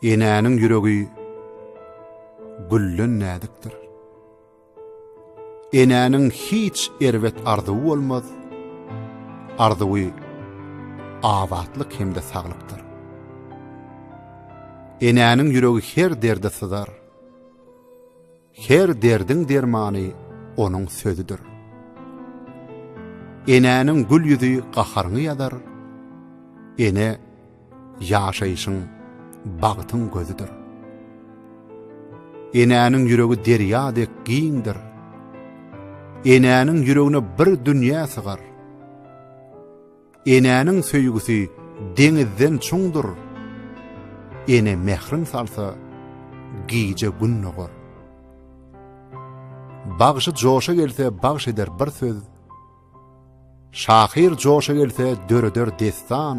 Enäniň ýüregi gülden näzikdir. Enäniň hiç erbet arzuwy bolmaz. Arzuwy abatlyk hem-de saglykdyr. Enäniň ýüregi her derde syzar. Her derdiň dermany onuň sözüdir. Enäniň gül ýüzi gaharyňy ýazar, Ene ýaşaýşyň, bagtyň gözüdir. Enäniň ýüregi derýa dek giňdir, Enäniň ýüregine bir dünýä sygar. Enäniň söýgüsi deňizden çuňdur, Ene mährin salsa, gije gün dogar. Bagşy joşa gelse bagş eder bir söz, Şahyr joşa gelse döreder dessan.